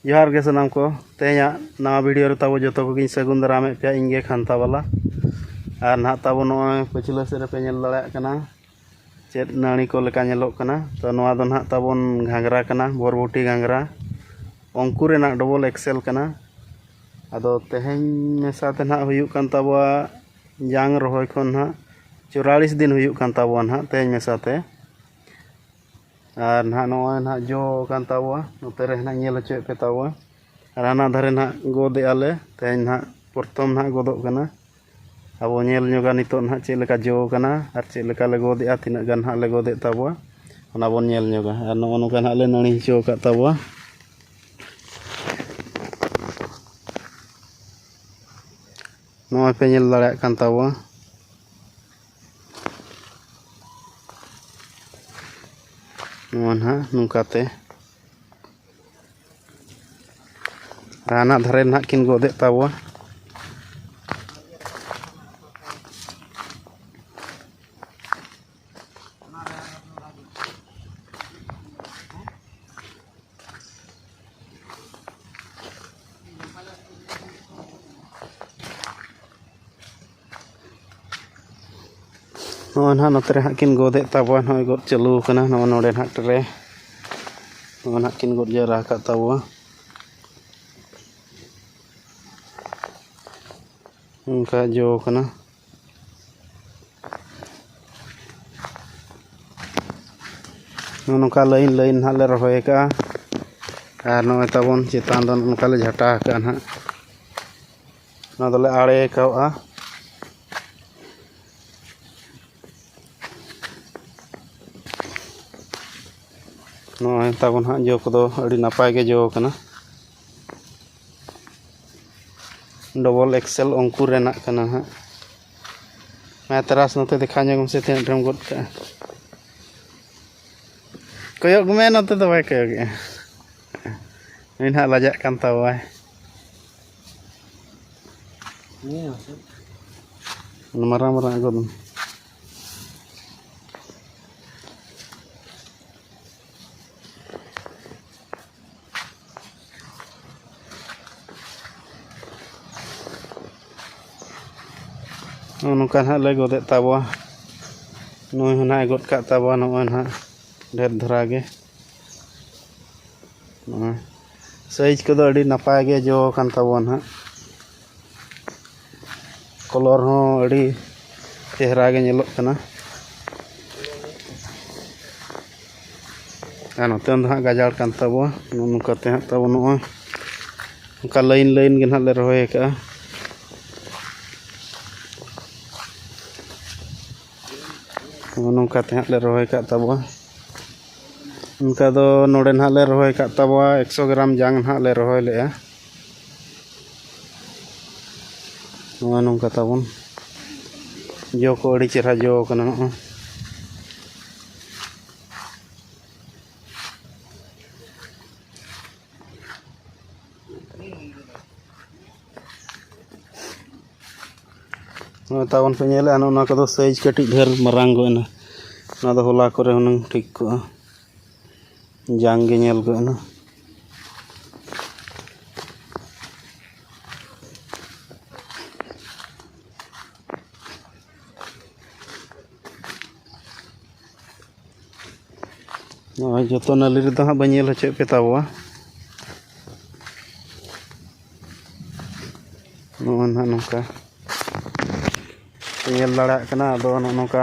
ᱡᱚᱦᱟᱨ ᱜᱮ ᱥᱟᱱᱟᱢ ᱠᱚ ᱛᱮᱦᱮᱧᱟᱜ ᱱᱟᱣᱟ ᱵᱷᱤᱰᱤᱭᱳ ᱨᱮ ᱛᱟᱵᱚ ᱡᱚᱛᱚ ᱠᱚᱜᱮᱧ ᱥᱟᱹᱜᱩᱱ ᱫᱟᱨᱟᱢᱮᱫ ᱯᱮᱭᱟ ᱤᱧ ᱜᱮ ᱠᱷᱟᱱᱛᱟ ᱵᱟᱞᱟ ᱟᱨ ᱱᱟᱦᱟᱜ ᱛᱟᱵᱚ ᱱᱚᱜᱼᱚᱭ ᱯᱟᱹᱪᱷᱞᱟᱹ ᱥᱮᱫ ᱨᱮᱯᱮ ᱧᱮᱞ ᱫᱟᱲᱮᱭᱟᱜ ᱠᱟᱱᱟ ᱪᱮᱫ ᱱᱟᱹᱲᱤ ᱠᱚ ᱞᱮᱠᱟ ᱧᱮᱞᱚᱜ ᱠᱟᱱᱟ ᱛᱚ ᱱᱚᱣᱟ ᱫᱚ ᱱᱟᱦᱟᱜ ᱛᱟᱵᱚᱱ ᱜᱷᱟᱸᱜᱽᱨᱟ ᱠᱟᱱᱟ ᱵᱚᱨᱵᱚᱴᱤ ᱜᱷᱟᱸᱜᱽᱨᱟ ᱚᱝᱠᱩᱨ ᱨᱮᱱᱟᱜ ᱰᱚᱵᱚᱞ ᱮᱠᱥᱮᱞ ᱠᱟᱱᱟ ᱟᱫᱚ ᱛᱮᱦᱮᱧ ᱢᱮᱥᱟ ᱛᱮ ᱱᱟᱦᱟᱜ ᱦᱩᱭᱩᱜ ᱠᱟᱱ ᱛᱟᱵᱚᱣᱟ ᱡᱟᱝ ᱨᱚᱦᱚᱭ ᱠᱷᱚᱱ ᱱᱟᱦᱟᱜ ᱪᱩᱨᱟᱞᱤᱥ ᱫᱤᱱ ᱦᱩᱭᱩᱜ ᱠᱟᱱ ᱛᱟᱵᱚᱣᱟ ᱱᱟᱦᱟᱜ ᱛᱮᱦᱮᱧ ᱢᱮᱥᱟ ᱛᱮ ᱟᱨ ᱱᱟᱦᱟᱜ ᱱᱚᱜᱼᱚᱭ ᱱᱟᱦᱟᱜ ᱡᱚ ᱟᱠᱟᱱ ᱛᱟᱵᱚᱣᱟ ᱱᱚᱛᱮ ᱨᱮ ᱱᱟᱦᱟᱜ ᱧᱮᱞ ᱦᱚᱪᱚᱭᱮᱫ ᱯᱮ ᱛᱟᱵᱚᱣᱟ ᱟᱨ ᱦᱟᱱᱟ ᱫᱷᱟᱨᱮ ᱱᱟᱦᱟᱜ ᱜᱚᱫ ᱮᱫᱼᱟ ᱞᱮ ᱛᱮᱦᱮᱧ ᱱᱟᱦᱟᱜ ᱯᱨᱚᱛᱷᱚᱢ ᱱᱟᱦᱟᱜ ᱜᱚᱫᱚᱜ ᱠᱟᱱᱟ ᱟᱵᱚ ᱧᱮᱞ ᱧᱚᱜᱟ ᱱᱤᱛᱚᱜ ᱱᱟᱦᱟᱜ ᱪᱮᱫ ᱞᱮᱠᱟ ᱡᱚ ᱟᱠᱟᱱᱟ ᱟᱨ ᱪᱮᱫ ᱞᱮᱠᱟ ᱞᱮ ᱜᱚᱫ ᱮᱫᱼᱟ ᱛᱤᱱᱟᱹᱜ ᱜᱟᱱ ᱱᱟᱦᱟᱜ ᱞᱮ ᱜᱚᱫ ᱮᱫ ᱛᱟᱵᱚᱣᱟ ᱚᱱᱟ ᱵᱚᱱ ᱧᱮᱞ ᱧᱚᱜᱟ ᱟᱨ ᱱᱚᱜᱼᱚ ᱱᱚᱝᱠᱟ ᱱᱟᱦᱟᱜ ᱞᱮ ᱱᱟᱹᱲᱤ ᱦᱚᱪᱚ ᱟᱠᱟᱫ ᱛᱟᱵᱚᱣᱟ ᱱᱚᱜᱼᱚᱭ ᱯᱮ ᱧᱮᱞ ᱫᱟᱲᱮᱭᱟᱜ ᱠᱟᱱ ᱛᱟᱵᱚᱣᱟ ᱱᱚᱣᱟ ᱱᱟᱦᱟᱜ ᱱᱚᱝᱠᱟᱛᱮ ᱟᱨ ᱦᱟᱱᱟ ᱫᱷᱟᱨᱮ ᱱᱟᱦᱟᱜ ᱠᱤᱱ ᱜᱚᱫᱮᱫ ᱛᱟᱵᱚᱣᱟ ᱱᱚᱜᱼᱚᱭ ᱱᱟᱦᱟᱜ ᱱᱚᱛᱮ ᱨᱮ ᱦᱟᱸᱜ ᱠᱤᱱ ᱜᱚᱫᱮᱜ ᱛᱟᱵᱚᱣᱟ ᱱᱚᱜᱼᱚᱭ ᱜᱚᱫ ᱪᱟᱹᱞᱩ ᱠᱟᱱᱟ ᱱᱚᱜᱼᱚᱭ ᱱᱚᱰᱮ ᱱᱟᱦᱟᱜ ᱴᱨᱮ ᱱᱚᱜᱼᱚᱭ ᱱᱟᱦᱟᱜ ᱠᱤᱱ ᱜᱚᱫ ᱡᱟᱣᱨᱟ ᱟᱠᱟᱫ ᱛᱟᱵᱚᱣᱟ ᱚᱱᱠᱟ ᱡᱚ ᱠᱟᱱᱟ ᱱᱚᱜᱼᱚ ᱱᱚᱝᱠᱟ ᱞᱟᱹᱭᱤᱱ ᱞᱟᱹᱭᱤᱱ ᱱᱟᱦᱟᱜ ᱞᱮ ᱨᱚᱦᱚᱭ ᱠᱟᱜᱼᱟ ᱟᱨ ᱱᱚᱜᱼᱚᱭ ᱛᱟᱵᱚᱱ ᱪᱮᱛᱟᱱ ᱫᱚ ᱱᱚᱝᱠᱟ ᱞᱮ ᱡᱷᱟᱴᱟ ᱠᱟᱜᱼᱟ ᱱᱟᱦᱟᱜ ᱚᱱᱟ ᱫᱚᱞᱮ ᱟᱲᱮ ᱠᱟᱜᱼᱟ ᱱᱚᱜᱼᱚᱭ ᱛᱟᱵᱚᱱ ᱦᱟᱸᱜ ᱡᱚ ᱠᱚᱫᱚ ᱟᱹᱰᱤ ᱱᱟᱯᱟᱭ ᱜᱮ ᱡᱚᱣ ᱠᱟᱱᱟ ᱰᱚᱵᱚᱞ ᱮᱠᱥᱮᱞ ᱩᱱᱠᱩ ᱨᱮᱱᱟᱜ ᱠᱟᱱᱟ ᱦᱟᱸᱜ ᱢᱟ ᱛᱟᱨᱟᱥ ᱱᱚᱛᱮ ᱫᱮᱠᱷᱟᱣ ᱧᱚᱜ ᱢᱮᱥᱮ ᱛᱤᱱᱟᱹᱜ ᱰᱷᱮᱨᱮᱢ ᱜᱚᱫ ᱠᱟᱜᱼᱟ ᱠᱚᱭᱚᱜ ᱢᱮ ᱱᱚᱛᱮ ᱫᱚ ᱵᱟᱭ ᱠᱚᱭᱚᱜᱮᱜᱼᱟ ᱩᱱᱤ ᱱᱟᱦᱟᱜ ᱞᱟᱡᱟᱜ ᱠᱟᱱ ᱛᱟᱵᱚᱣᱟᱭ ᱢᱟᱨᱟᱝ ᱢᱟᱨᱟᱝ ᱟᱜᱚᱫ ᱢᱮ ᱱᱚᱜᱼᱚ ᱱᱚᱝᱠᱟ ᱱᱟᱦᱟᱜ ᱞᱮ ᱜᱚᱫᱮᱫ ᱛᱟᱵᱚᱣᱟ ᱱᱩᱭ ᱦᱚᱸ ᱱᱟᱦᱟᱜ ᱮ ᱜᱚᱫ ᱠᱟᱜ ᱛᱟᱵᱚᱣᱟ ᱱᱚᱜᱼᱚᱭ ᱱᱟᱦᱟᱜ ᱰᱷᱮᱨ ᱫᱷᱟᱨᱟ ᱜᱮ ᱱᱚᱜᱼᱚᱭ ᱥᱟᱭᱤᱡᱽ ᱠᱚᱫᱚ ᱟᱹᱰᱤ ᱱᱟᱯᱟᱭ ᱜᱮ ᱡᱚ ᱟᱠᱟᱱ ᱛᱟᱵᱚᱣᱟ ᱱᱟᱦᱟᱜ ᱠᱟᱞᱟᱨ ᱦᱚᱸ ᱟᱹᱰᱤ ᱪᱮᱦᱨᱟ ᱜᱮ ᱧᱮᱞᱚᱜ ᱠᱟᱱᱟ ᱟᱨ ᱱᱚᱛᱮ ᱫᱚ ᱦᱟᱸᱜ ᱜᱟᱡᱟᱲ ᱠᱟᱱ ᱛᱟᱵᱚᱣᱟ ᱱᱚᱜᱼᱚ ᱱᱚᱝᱠᱟ ᱛᱮ ᱦᱟᱸᱜ ᱛᱟᱵᱚ ᱱᱚᱜᱼᱚᱭ ᱚᱱᱠᱟ ᱞᱟᱹᱭᱤᱱ ᱞᱟᱹᱭᱤᱱ ᱜᱮ ᱦᱟᱸᱜ ᱞᱮ ᱨᱚᱦᱚᱭ ᱟᱠᱟᱜᱼᱟ ᱱᱚᱜᱼᱚ ᱱᱚᱝᱠᱟ ᱛᱮ ᱦᱟᱸᱜ ᱞᱮ ᱨᱚᱦᱚᱭ ᱟᱠᱟᱫ ᱛᱟᱵᱚᱣᱟ ᱚᱱᱠᱟ ᱫᱚ ᱱᱚᱰᱮ ᱦᱟᱸᱜ ᱞᱮ ᱨᱚᱦᱚᱭ ᱟᱠᱟᱫ ᱛᱟᱵᱚᱣᱟ ᱮᱠᱥᱚ ᱜᱨᱟᱢ ᱡᱟᱝ ᱦᱟᱸᱜ ᱞᱮ ᱨᱚᱦᱚᱭ ᱞᱮᱫᱼᱟ ᱱᱚᱜᱼᱚᱭ ᱱᱚᱝᱠᱟ ᱛᱟᱵᱚᱱ ᱡᱚ ᱠᱚ ᱟᱹᱰᱤ ᱪᱮᱦᱨᱟ ᱡᱚ ᱠᱟᱱᱟ ᱱᱚᱜᱼᱚᱭ ᱱᱚᱜᱼᱚᱭ ᱛᱟᱵᱚᱱ ᱯᱮ ᱧᱮᱞᱮᱫᱼᱟ ᱱᱚᱜᱼᱚ ᱱᱚᱣᱟ ᱠᱚᱫᱚ ᱥᱟᱭᱤᱡᱽ ᱠᱟᱹᱴᱤᱡ ᱰᱷᱮᱨ ᱢᱟᱨᱟᱝ ᱜᱚᱫ ᱮᱱᱟ ᱱᱚᱣᱟ ᱫᱚ ᱦᱚᱞᱟ ᱠᱚᱨᱮ ᱦᱩᱱᱟᱹᱝ ᱴᱷᱤᱠ ᱠᱚᱜᱼᱟ ᱡᱟᱝ ᱜᱮ ᱧᱮᱞ ᱠᱚᱜ ᱱᱟ ᱱᱚᱜᱼᱚᱭ ᱡᱚᱛᱚ ᱱᱟᱹᱞᱤ ᱨᱮᱫᱚ ᱦᱟᱸᱜ ᱵᱟᱹᱧ ᱧᱮᱞ ᱦᱚᱪᱚᱭᱮᱫ ᱯᱮ ᱛᱟᱵᱚᱣᱟ ᱱᱚᱜᱼᱚᱭ ᱱᱟᱜ ᱱᱚᱝᱠᱟ ᱧᱮᱞ ᱫᱟᱲᱮᱭᱟᱜ ᱠᱟᱱᱟ ᱟᱫᱚ ᱱᱚᱜᱼᱚ ᱱᱚᱝᱠᱟ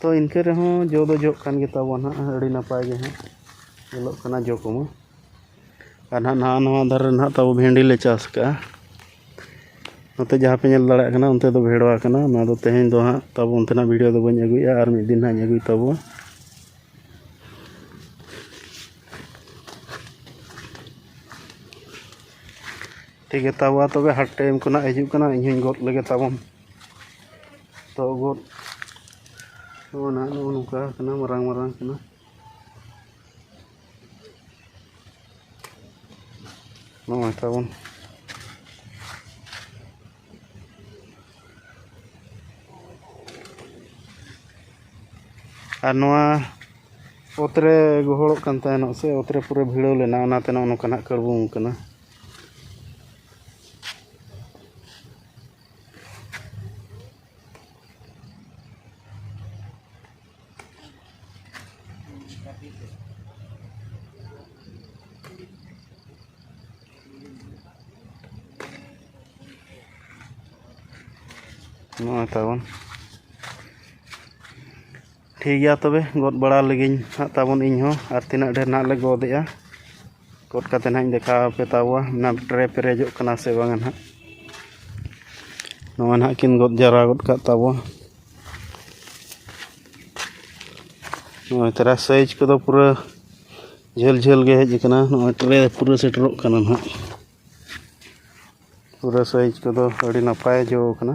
ᱛᱚ ᱤᱱᱠᱟᱹ ᱨᱮᱦᱚᱸ ᱡᱚ ᱫᱚ ᱡᱚᱜ ᱠᱟᱱ ᱜᱮᱛᱟ ᱵᱚᱣᱟ ᱱᱟᱜ ᱟᱹᱰᱤ ᱱᱟᱯᱟᱭ ᱜᱮ ᱦᱟᱸᱜ ᱧᱮᱞᱚᱜ ᱠᱟᱱᱟ ᱡᱚ ᱠᱚᱢᱟ ᱟᱨ ᱱᱟᱜ ᱱᱟᱣᱟ ᱱᱟᱣᱟ ᱫᱟᱨᱮ ᱨᱮ ᱱᱟᱜ ᱛᱟᱵᱚ ᱵᱷᱮᱱᱰᱤ ᱞᱮ ᱪᱟᱥ ᱠᱟᱜᱼᱟ ᱱᱚᱛᱮ ᱡᱟᱦᱟᱸ ᱯᱮ ᱧᱮᱞ ᱫᱟᱲᱮᱭᱟᱜ ᱠᱟᱱᱟ ᱚᱱᱛᱮ ᱫᱚ ᱵᱷᱮᱲᱣᱟ ᱠᱟᱱᱟ ᱱᱚᱣᱟ ᱫᱚ ᱛᱮᱦᱮᱧ ᱫᱚ ᱦᱟᱸᱜ ᱛᱟᱵᱚ ᱚᱱᱛᱮᱱᱟᱜ ᱵᱷᱤᱰᱤᱭᱳ ᱫᱚ ᱵᱟᱹᱧ ᱟᱹᱜᱩᱭᱮᱫᱼᱟ ᱟᱨ ᱢᱤᱫ ᱫᱤᱱ ᱦᱟᱸᱜ ᱤᱧ ᱟᱹᱜᱩᱭ ᱛᱟᱵᱚᱣᱟ ᱴᱷᱤᱠ ᱜᱮᱛᱟ ᱵᱚᱣᱟ ᱛᱚᱵᱮ ᱦᱟᱴ ᱴᱟᱭᱤᱢ ᱠᱚ ᱱᱟᱜ ᱦᱤᱡᱩᱜ ᱠᱟᱱᱟ ᱤᱧ ᱦᱚᱸᱧ ᱜᱚᱫ ᱞᱮᱜᱮ ᱛᱟᱵᱚᱱ ᱛᱚᱜᱚᱫ ᱱᱚᱜᱼᱚ ᱱᱟ ᱱᱚᱜᱼᱚ ᱱᱚᱝᱠᱟ ᱟᱠᱟᱱᱟ ᱢᱟᱨᱟᱝ ᱢᱟᱨᱟᱝ ᱠᱟᱱᱟ ᱱᱚᱜᱼᱚᱭ ᱛᱟᱵᱚᱱ ᱟᱨ ᱱᱚᱣᱟ ᱚᱛ ᱨᱮ ᱜᱚᱦᱚᱲᱚᱜ ᱠᱟᱱ ᱛᱟᱦᱮᱱᱚᱜ ᱥᱮ ᱚᱛ ᱨᱮ ᱯᱩᱨᱟᱹ ᱵᱷᱤᱲᱟᱹᱣ ᱞᱮᱱᱟ ᱚᱱᱟᱛᱮ ᱱᱚᱜᱼᱚ ᱱᱚᱝᱠᱟᱱᱟᱜ ᱠᱟᱹᱲᱵᱩᱝ ᱠᱟᱱᱟ ᱱᱚᱜᱼᱚᱭ ᱛᱟᱵᱚᱱ ᱴᱷᱤᱠ ᱜᱮᱭᱟ ᱛᱚᱵᱮ ᱜᱚᱫ ᱵᱟᱲᱟ ᱞᱮᱜᱤᱧ ᱦᱟᱸᱜ ᱛᱟᱵᱚᱱ ᱤᱧ ᱦᱚᱸ ᱟᱨ ᱛᱤᱱᱟᱹᱜ ᱰᱷᱮᱨ ᱱᱟᱦᱟᱜ ᱞᱮ ᱜᱚᱫ ᱮᱜᱼᱟ ᱜᱚᱫ ᱠᱟᱛᱮᱫ ᱦᱟᱸᱜ ᱤᱧ ᱫᱮᱠᱷᱟᱣ ᱟᱯᱮ ᱛᱟᱵᱚᱣᱟ ᱚᱱᱟ ᱴᱨᱮ ᱯᱮᱨᱮᱡᱚᱜ ᱠᱟᱱᱟ ᱥᱮ ᱵᱟᱝ ᱦᱟᱸᱜ ᱱᱚᱣᱟ ᱱᱟᱦᱟᱜ ᱠᱤᱱ ᱜᱚᱫ ᱡᱟᱣᱨᱟ ᱜᱚᱫ ᱠᱟᱜ ᱛᱟᱵᱚᱣᱟ ᱱᱚᱜᱼᱚᱭ ᱛᱟᱨᱟ ᱥᱟᱭᱤᱡᱽ ᱠᱚᱫᱚ ᱯᱩᱨᱟᱹ ᱡᱷᱟᱹᱞ ᱡᱷᱟᱹᱞ ᱜᱮ ᱦᱮᱡ ᱟᱠᱟᱱᱟ ᱱᱚᱜᱼᱚᱭ ᱴᱨᱮ ᱯᱩᱨᱟᱹ ᱥᱮᱴᱮᱨᱚᱜ ᱠᱟᱱᱟ ᱱᱟᱦᱟᱜ ᱯᱩᱨᱟᱹ ᱥᱟᱭᱤᱡᱽ ᱠᱚᱫᱚ ᱟᱹᱰᱤ ᱱᱟᱯᱟᱭ ᱡᱚ ᱠᱟᱱᱟ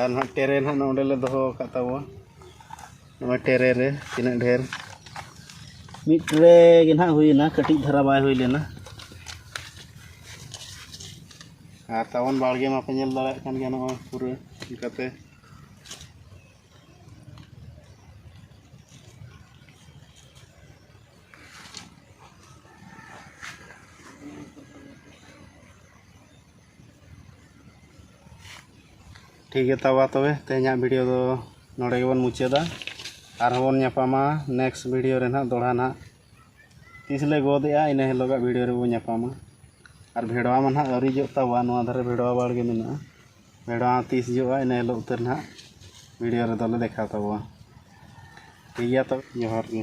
ᱟᱨ ᱱᱟᱦᱟᱜ ᱴᱮᱨᱮ ᱱᱟᱦᱟᱜ ᱱᱚᱰᱮ ᱞᱮ ᱫᱚᱦᱚ ᱟᱠᱟᱫ ᱛᱟᱵᱚᱣᱟ ᱱᱚᱣᱟ ᱴᱮᱨᱮ ᱨᱮ ᱛᱤᱱᱟᱹᱜ ᱰᱷᱮᱨ ᱢᱤᱫ ᱴᱮᱨᱮ ᱜᱮ ᱱᱟᱦᱟᱜ ᱦᱩᱭᱮᱱᱟ ᱠᱟᱹᱴᱤᱡ ᱫᱷᱟᱨᱟ ᱵᱟᱭ ᱦᱩᱭ ᱞᱮᱱᱟ ᱟᱨ ᱛᱟᱵᱚᱱ ᱵᱟᱲᱜᱮ ᱢᱟᱯᱮ ᱧᱮᱞ ᱫᱟᱲᱮᱭᱟᱜ ᱠᱟᱱ ᱜᱮᱭᱟ ᱱᱚᱜᱼᱚᱭ ᱯᱩᱨᱟᱹ ᱪᱤᱠᱟᱛᱮ ᱴᱷᱤᱠ ᱜᱮᱭᱟ ᱛᱟᱵᱟ ᱛᱚᱵᱮ ᱛᱮᱦᱮᱧᱟᱜ ᱵᱷᱤᱰᱤᱭᱳ ᱫᱚ ᱱᱚᱰᱮ ᱜᱮᱵᱚᱱ ᱢᱩᱪᱟᱹᱫᱟ ᱟᱨᱦᱚᱸ ᱵᱚᱱ ᱧᱟᱯᱟᱢᱟ ᱱᱮᱠᱥᱴ ᱵᱷᱤᱰᱤᱭᱳ ᱨᱮ ᱱᱟᱦᱟᱜ ᱫᱚᱦᱲᱟ ᱱᱟᱦᱟᱜ ᱛᱤᱥ ᱞᱮ ᱜᱚᱫ ᱮᱫᱼᱟ ᱤᱱᱟᱹ ᱦᱤᱞᱳᱜᱟᱜ ᱵᱷᱤᱰᱤᱭᱳ ᱨᱮᱵᱚᱱ ᱧᱟᱯᱟᱢᱟ ᱟᱨ ᱵᱷᱮᱰᱣᱟ ᱢᱟ ᱱᱟᱦᱟᱜ ᱟᱹᱣᱨᱤ ᱡᱚᱜ ᱛᱟᱵᱚᱣᱟ ᱱᱚᱣᱟ ᱫᱷᱟᱨᱮ ᱵᱷᱮᱰᱣᱟ ᱵᱟᱲᱜᱮ ᱢᱮᱱᱟᱜᱼᱟ ᱵᱷᱮᱰᱣᱟ ᱛᱤᱥ ᱡᱚᱜᱼᱟ ᱤᱱᱟᱹ ᱦᱤᱞᱳᱜ ᱩᱛᱟᱹᱨ ᱱᱟᱦᱟᱜ ᱵᱷᱤᱰᱤᱭᱳ ᱨᱮᱫᱚ ᱞᱮ ᱫᱮᱠᱷᱟᱣ ᱛᱟᱵᱚᱣᱟ ᱴᱷᱤᱠ ᱜᱮᱭᱟ ᱛᱚᱵᱮ ᱡᱚᱦᱟᱨ ᱜᱮ